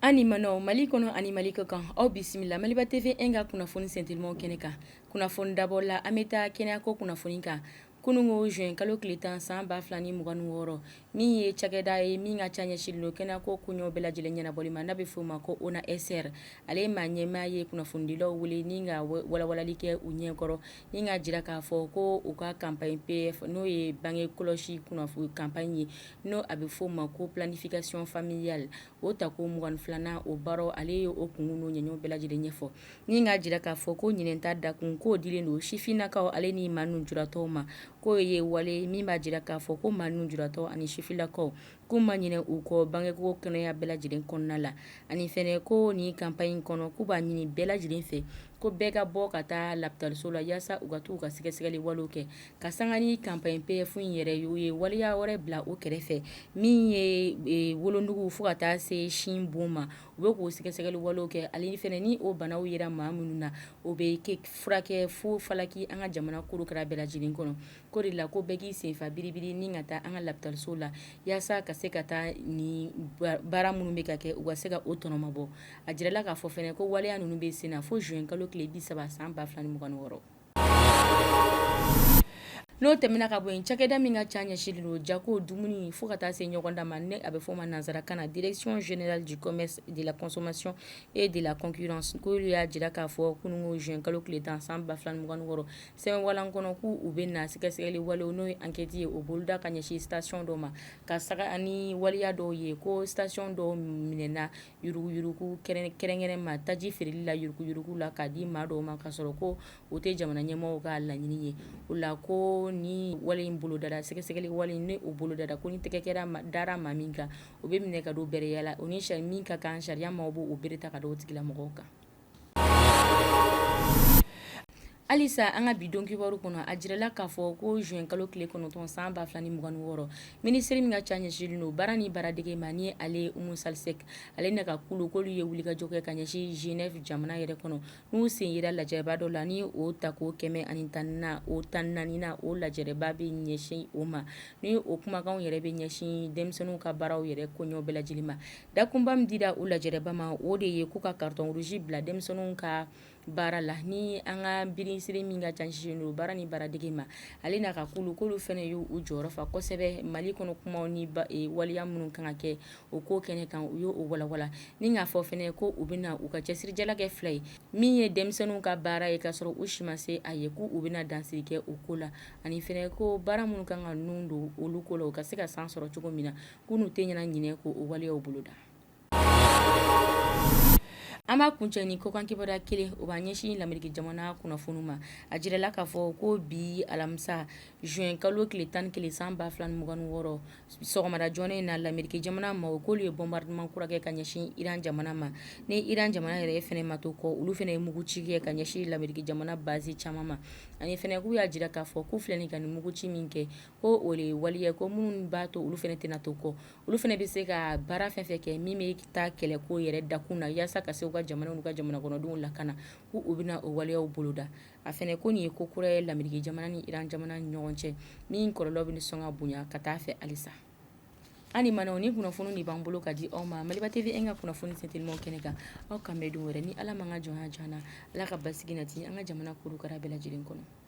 An ni ma mali kɔnɔ ani mali kɔ kan aw bisimila maliba TV in ka kunnafoni sentelima kɛnɛ kan kunnafoni dabɔ la an bɛ taa kɛnɛya ko kunnafoni kan Kununko juin kalo tile tan san ba fila ni mugan wɔɔrɔ min ye cakɛda ye min ka ca ɲɛsinnen don kɛnɛya ko koɲɛw bɛɛ lajɛlen ɲɛnabɔli ma n'a bɛ f'o ma ko ONASR ale ye maa ɲɛmaa ye kunnafonidilaw wele ni ka walawalali kɛ u ɲɛkɔrɔ ni ka jira k'a fɔ ko u ka campagne PF n'o ye bange kɔlɔsi kunnafoni campagne ye n'o a bɛ f'o ma ko planification familiale o tako mugan ni filanan o baaraw ale ye o kunkun n'o ɲɛɲɛw bɛɛ lajɛlen ɲɛfɔ Ni k'a jira k'a fɔ ko ɲinɛn ta dakun k'o dilen don sifinnakaw ale ni maa nujuratɔw ma k'o ye wale min b'a jira k'a fɔ ko maa nujuratɔ ani sifinnakaw k'u ma ɲinɛ u kɔ bangeko kɛnɛya bɛɛ lajɛlen kɔnɔna la ani fɛnɛ ko nin campagne kɔnɔ k'u b'a ɲini bɛɛ lajɛlen fɛ ko bɛɛ ka bɔ ka taa lapitaliso la yaasa u ka taa u ka sɛgɛsɛgɛli walew kɛ ka sanga ni campagne PF in yɛrɛ u ye waleya wɛrɛ bila o kɛrɛfɛ min ye wolonugu fo ka taa se sin bon ma u bɛ k'o sɛgɛsɛgɛli walew kɛ ale fɛnɛ ni o banaw yera maa minnu na o bɛ kɛ furakɛ fu falaki an ka jamana kurukɛrɛ bɛɛ lajɛlen kɔnɔ k'o de la ko bɛɛ k'i senfa biribiri ni ka taa an ka lapitaliso la yaasa ka se ka taa nin baara minnu bɛ ka kɛ u ka se ka o tɔnɔma bɔ a jirala k'a fɔ fɛnɛ ko waleya ninnu bɛ sen na fo juin kalo tile bi saba san ba fila ni mugan ni wɔɔrɔ N'o tɛmɛna ka bɔ yen cakɛda min ka ca ɲɛsinlen don jago dumuni fo ka taa se ɲɔgɔndan ma ni a bɛ fɔ o ma nansara kan na direction générale du commerce de la consommation et de la concurrence k'olu y'a jira k'a fɔ kununko juin kalo tile tan san 2026 sɛbɛnwalan kɔnɔ k'u u bɛ na sɛgɛsɛgɛli walew n'o ye enquête ye o boloda ka ɲɛsin station dɔ ma ka saga ani waleya dɔw ye ko station dɔw minɛna yuruguyurugu kɛrɛnkɛrɛn ma taji feereli la yuruguyurugu la k'a di maa dɔw ma k'a sɔrɔ ko o tɛ jamana ɲɛmɔgɔw ka laɲini ye o la ko ni wale in bolodara sɛgɛsɛgɛli wale ni o bolodara ko ni tɛgɛ kɛra dara maa min kan o bɛ minɛ ka don bɛrɛya la o ni min ka kan sariya maaw b'o bere ta ka don o tigilamɔgɔw kan Halisa an ka bi donkibaru kɔnɔ a jirala k'a fɔ ko juin kalo tile kɔnɔntɔn san ba fila ni mugan ni wɔɔrɔ minisiri min ka ca ɲɛsinnen don baara ni baaradege ma ni ale Oumou Sall Seck ale n'a ka kulu k'olu ye wulikajɔ kɛ ka ɲɛsin Genève jamana yɛrɛ kɔnɔ n'u sen yera lajɛrɛba dɔ la ni o tako kɛmɛ ani tan na o tan naaninan o lajɛrɛba bɛ ɲɛsin o ma ni o kumakanw yɛrɛ bɛ ɲɛsin denmisɛnninw ka baaraw yɛrɛ koɲɛw bɛɛ lajɛlen ma Dakunba min dira o lajɛrɛba ma o de ye k'u ka carton rouge bila denmisɛnninw ka baara la ni an ka minisiri min ka ca ɲɛsinnen don baara ni baaradege ma ale n'a ka kulu k'olu fana y' u jɔyɔrɔ fa kosɛbɛ mali kɔnɔ kuma ni waleya minnu kan ka kɛ o ko kɛnɛ kan u y'o walawala ni k'a fɔ fana ko u bɛ na u ka cɛsirijala kɛ fila ye min ye denmisɛnninw ka baara ye k'a sɔrɔ u si ma se a ye ko u bɛna dansigi kɛ o ko la ani fana ko baara minnu kan ka ninnu don olu ko la u ka se ka san sɔrɔ cogo min na Ko n'u tɛ ɲɛna ɲinɛ ko o waleyaw boloda an b'a kuncɛ ni kɔkan kibaruya kelen o b'an ɲɛsin lamɛriki jamana kunnafoniw ma a jirala k'a fɔ ko bi alamisa zuwɛnkalo tile tan ni kelen san ba fila ni mugan ni wɔɔrɔ sɔgɔmada joona in na lamɛriki jamana maaw k'olu ye bombardement kura kɛ ka ɲɛsin iran jamana ma ni iran jamana yɛrɛ fana ma to kɔ olu fana ye muguci kɛ ka ɲɛsin lamɛriki jamana base caman ma ani fana k'u y'a jira k'a fɔ k'u filɛ nin ka nin muguci min kɛ ko o de ye waleya ko minnu b'a to olu fana tɛna to kɔ olu fana bɛ se ka baara fɛn fɛn kɛ min bɛ taa kɛlɛko yɛrɛ dakun na walasa ka se u ka jamana n'u ka jamana kɔnɔdenw lakana ko u bɛna o waleya boloda a fana ko nin ye ko kura ye lamɛriki jamana ni iran jamana ni ɲɔgɔn cɛ min kɔlɔlɔ bɛ sɔn ka bonya ka taa fɛ halisa ani ma nin kunnafoni de b'an bolo ka di aw ma maliba tv an ka kunnafoni fitiri kɛnɛ kan aw k'an bɛn don wɛrɛ ni ala ma ka jɔn jan ala ka basigi nati an ka jamana kuru kara bɛɛ lajɛlen kɔnɔ